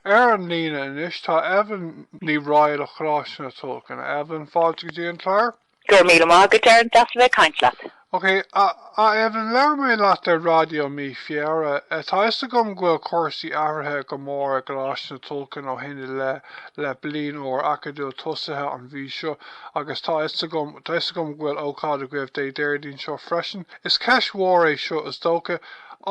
Ar an líne anois tá Evelyn Ní Raghaill ó Choláiste na Tulchann. Evelyn, fáilte go dtí an clár. Go raibh míle maith agat, Darren, deas a bheith ag caint leat. Ok, a Evelyn, labhair mé leat ar raidió mí Feabhra. Tá 'fhios agam go bhfuil cúrsaí athraithe go mór i gColáiste na Tulchann ó shin i leith, le bliain úr acadúil tosaithe an mhí seo, agus tá 'fhios agam, tá 'fhios agam go bhfuil ócáid agaibh Dé Déardaoin seo freisin. Is ceist mhór é seo, is dócha,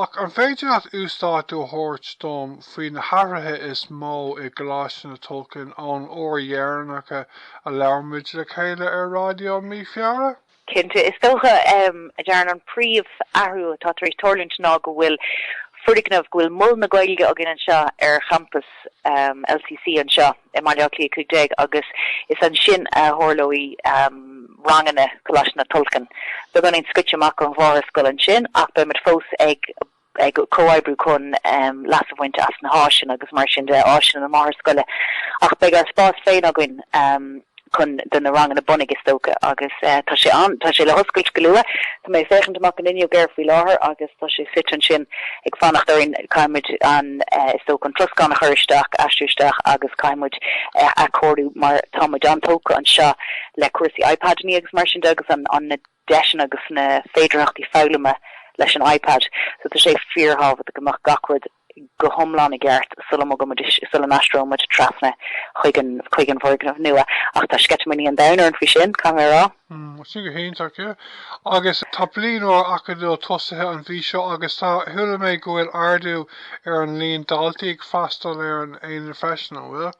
ach an féidir leat uasdátú a thabhairt dom faoi na hathruithe is mó i gColáiste na Tulchann ón uair dheireanach a labhair muid le chéile ar raidió i mí Feabhra. Cinnte, is dócha, a Darren, an príomh-athrú atá tar éis tarlúint ná go bhfuil foirgneamh, go bhfuil Mol na Gaeilge againn anseo ar champas LCC anseo i mBaile Átha Cliath 15 agus is ansin a tharlóidh ranganna Choláiste na Tulchann. Beagáinín scoite amach ón mháthairscoil ansin ach beimid fós ag. ag comhoibriú chun leas a bhaint as na háiseanna agus mar sin de, áiseanna na máthairscoile, ach beidh ár spás féin againn chun do na ranganna bunaidh is dócha agus tá sé ann, tá sé le hoscailt go luath. Tá mé ag féachaint amach an fhuinneog air faoi láthair agus tá sé suite ansin ag fanacht orainn, caithfidh muid an, is dócha, an troscán a chur isteach, aistriú isteach agus caithfidh muid a athchóiriú mar tá muid an-tógtha anseo le cúrsaí iPadannaí agus mar sin de agus an, na, deiseanna agus na féidearthachtaí foghlama leis an iPad. So tá sé fíorthábhachtach go mbeadh gach rud go hiomlán i gceart sula, sula n-aistreoimid trasna chuig an bhfoirgneamh nua. Ach tá sceitimíní an domhain orm faoi sin, caithfidh mé a rá. Sin go hiontach, yeah. Agus tá bliain úr acadúil tosaithe an mhí seo agus tá, chuala mé go bhfuil ardú ar an líon daltaí ag freastal ar an aonad freisin, an bhfuil?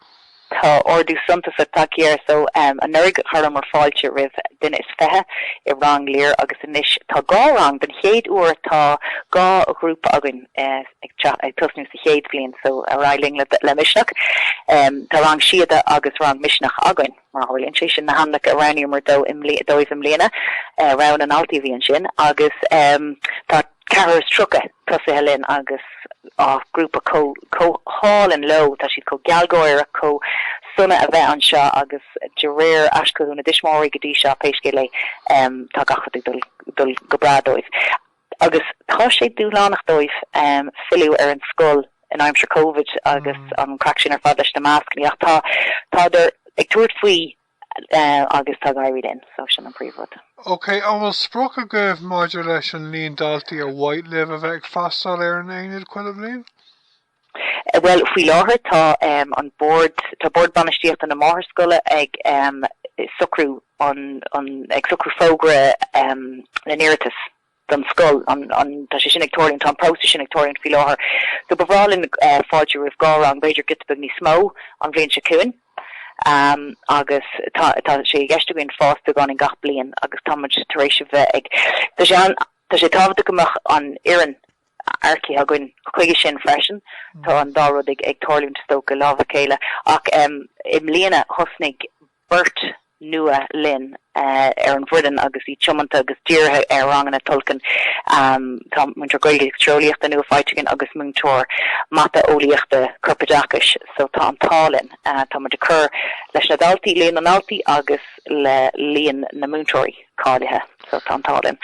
Tá ardú suntasach tagtha air so. Anuraidh chuireamar fáilte roimh duine is fiche i Rang Lir agus anois tá dhá rang, don chéad uair tá dhá ghrúpa againn ag tosnú sa chéad bhliain so. Ar aghaidh linn le Misneach. Tá Rang Síoda agus Rang Misneach againn mar a tharlaíonn sé. Sin na hainmneacha a roghnaíomar dóibh i mbliana, rogha na ndaltaí a bhí ansin agus tá. ceathrar is tríocha tosaithe linn agus grúpa chomh hálainn leo, tá siad chomh gealgháireach, chomh sona a bheith anseo agus de réir aischothú na dtuismitheoirí go dtí seo, pé scéal é, tá gach rud ag dul go breá dóibh. Agus tá sé dúshlánach dóibh filleadh ar an scoil in aimsir Covid agus an craic sin ar fad leis na mascannaí ach tádar ag tabhairt faoi. agus tá ag éirí linn, so sin an príomhrud. Ok, an bhfuil sprioc agaibh maidir leis an líon daltaí ar mhaith libh a bheith ag freastal ar an Aonad chuile bhliain? Bhuel, faoi láthair tá an bord, tá bord bainistíochta na máthairscoile ag socrú an, ag socrú fógra na n-iarratas. don scoil. Tá sé sin ag tarlúint, tá an próiseas sin ag tarlúint faoi láthair so ba bhreá linn fáilte roimh dhá rang, b'fhéidir giota beag níos mó an bhliain seo chugainn agus tá sé i gceist againn fás beagán in gach bliain agus tá muid tar éis a bheith ag Tá sé an Tá sé tábhachtach go mbeadh an fhoireann earcaithe againn chuige sin freisin tá an dá rud ag ag tarlúint is dócha lámha a chéile ach i mbliana thosnaigh beirt nua linn ar an bhfoireann agus iad tiomanta agus dírithe ar ranganna Tulchann. Tá múinteoir Gaeilge agus Tíreolaíochta nua faighte againn agus múinteoir Mata, Eolaíochta, Corpoideachais so tá an t-ádh linn. Tá muid ag cur leis na daltaí, líon na ndaltaí agus le líon na múinteoirí. cáilithe so tá an t-ádh linn.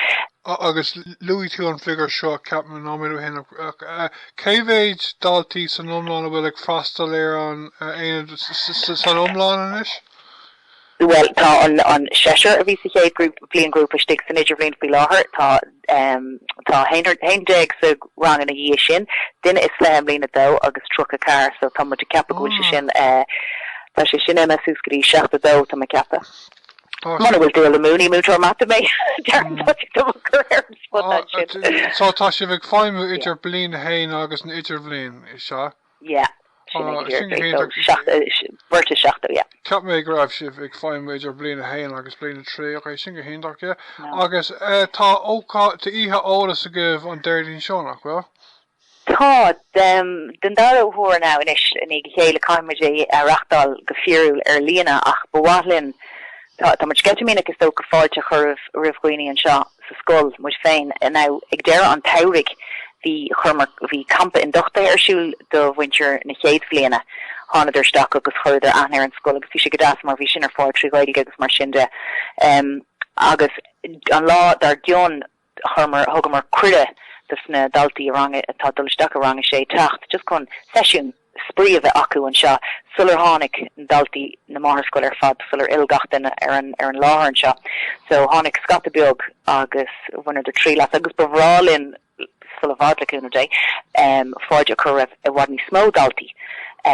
Agus luaigh tú an figiúr seo ceapaim an nóiméad ó shin, cé mhéid daltaí san iomlán a bhfuil ag freastal ar an aonad san iomlán anois? Bhuel tá an seisear a bhí sa chéad bhliainghrúpa istigh san idirbhliain faoi láthair, tá 11 sa rang ina dhiaidh sin, duine is fiche i mbliain a dó agus 34 so tá muid ag ceapadh go bhfuil sé sin, tá sé sin imithe suas go dtí 72 tá mé ag ceapadh. Muna bhfuil dul amú, ní múinteoir mata mé, déarfainn toisc dom an cur ar an spota ansin. So tá sibh ag feidhmiú idir bliain a haon agus an idirbhliain, is ea? Yeah, sin é go hiondúil. Beirt is seachtó, yeah. Cheap mé go raibh sibh ag feidhmiú idir bliain a haon agus bliain a trí, ok, sin go hiontach, yeah. Agus tá oíche eolais agaibh an Déardaoin seo, nach bhfuil? Tá, den dara huair now anois, i ndiaidh a chéile, caithfidh muid é a reachtáil go fíorúil ar líne, ach ba mhaith linn, tá muid sceitimíneach is dócha, fáilte a chur roimh dhaoine anseo sa scoil, muid féin. Now, ag deireadh an tsamhraidh, bhí, chuireamar, bhí campa induchtaithe ar siúl do mhuintir na chéad bhliana. Thánadar isteach agus chuireadar aithne ar an scoil agus bhí sé go deas mar bhí sin ar fáil trí Ghaeilge agus mar sin de. Agus an lá dár gcionn. chuireamar, thugamar cuireadh dos na daltaí i rang a, atá ag dul isteach i rang a sé teacht just chun seisiún spraoi a bheith acu anseo sular tháinig daltaí na máthairscoile ar fad sular fhill gach duine ar an, ar an láthair anseo so tháinig scata beag agus bhaineadar triail as agus ba bhreá linn sula i bhfad le cúnamh Dé em fáilte a chur roimh i bhfad níos mó daltaí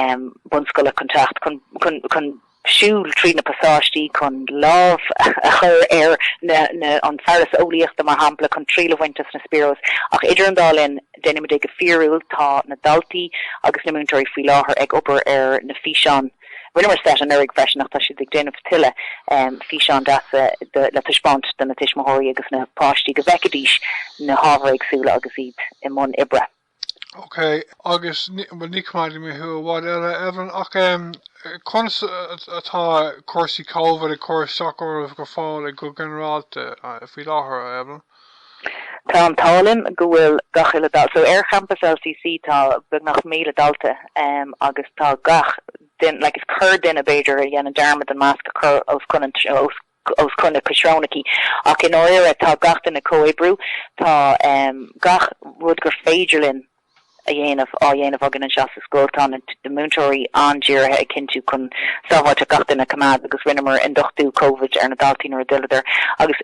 em bunscoile chun teacht chun, chun, chun. siúl trí na pasáistí chun lámh a chur ar na, an fearas eolaíochta, mar shampla, chun triail a bhaint as na Spheros. Ach idir an dá linn, déanaimid é go fíorúil, tá na daltaí agus na múinteoirí faoi láthair ag obair ar na físeáin. Rinneamar seit anuraidh freisin ach tá siad ag déanamh tuilleadh físeán deasa le taispeáint do na tuismitheoirí agus na páistí go bhfeicfidís na hábhair éagsúla agus iad i mbun oibre. ok, agus ní, bhuel ní coimeádfaidh mé thú i bhfad eile, Evelyn, ach em conas atá cúrsaí Covid ag cur isteach oraibh go fóill go ginearálta faoi láthair, a Evelyn? Tá an t-ádh linn go bhfuil gach uile dalta, so ar champas LCC tá beagnach míle dalta em agus tá gach duine, like is corrdhuine b'fhéidir a dhéanann dearmad an masc a chur os cionn an, os, os cionn a gcuid srónacha, ach i ndáiríre tá gach duine ag comhoibriú, tá gach rud gur féidir linn a dhéanamh á dhéanamh againn anseo sa scoil, tá na múinteoirí an-dírithe ag cinntiú chun sábháilteacht gach duine a choimeád agus rinneamar ionduchtú Covid ar na daltaí nuair a d'fhilleadar agus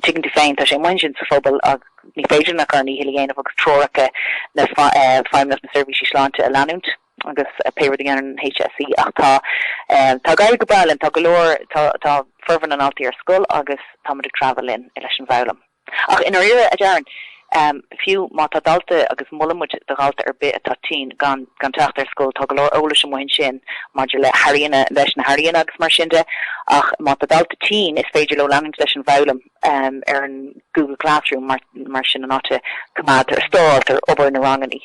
tuigeann tú féin, tá sé amuigh ansin sa phobal agus ní féidir linn ach ár ndícheall a dhéanamh agus treoracha na Feidhmeannacht na Seirbhísí Sláinte a leanúint. agus pé rud a deireann an HSE. Ach tá, tá ag éirí go breá linn, tá go leor, tá, tá formhór na ndaltaí ar scoil agus tá muid ag treabhadh linn leis an bhfoghlaim. Ach i ndáiríre, a Darren, fiú má tá dalta agus molann muid do dhalta ar bith atá tinn gan, gan teacht ar scoil, tá go leor eolais amuigh ansin maidir le hairíonna, leis na hairíonna agus mar sin de, ach má tá dalta tinn is féidir leo leanúint leis an bhfoghlaim. ar an Google Classroom, mar sin an áit a gcoimeádtar a stóráiltear obair na ranganna.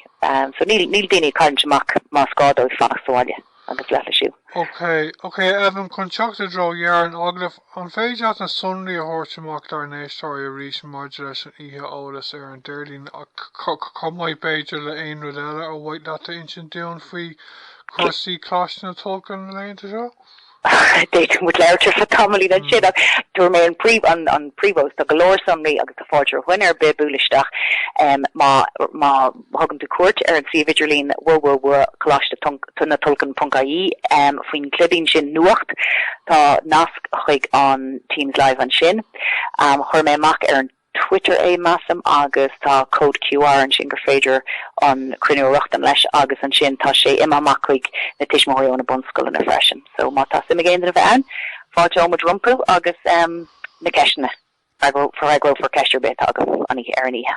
So níl daoine ag cailliúint amach más gá dóibh fanacht sa bhaile agus leithlisiú. OK, OK, Evelyn, chun teacht i dtreo dheireadh an agallaimh, an féidir leat na sonraí a thabhairt amach dár n-éisteoirí arís maidir leis an oíche eolais ar an Déardaoin chomh maith b'fhéidir le aon rud eile ar mhaith leat a insint dúinn faoi chúrsaí Choláiste na Tulchann na laethanta seo? D'fhéadfadh muid labhairt ar feadh tamaill leat ansin ach tabharfaidh mé an príomh fós, tá go leor sonraí agus tá fáilte roimh dhuine ar bith bualadh isteach má thugann tú cuairt ar an suíomh idirlín www.colaistenatulchann.ie faoin gclibín sin Nuacht. Tá nasc chuig an Teams Live ansin. Chuir mé amach ar an Twitter é measaim agus tá cód QR ansin gur féidir an cruinniú a rochtain leis agus ansin tá sé imithe amach chuig na tuismitheoirí ó na bunscoileanna freisin so má tá suim ag aon duine bheith ann fáilteoidh muid rompu agus na ceisteanna freagrófar ceist ar bith atá agaibh ar an oíche.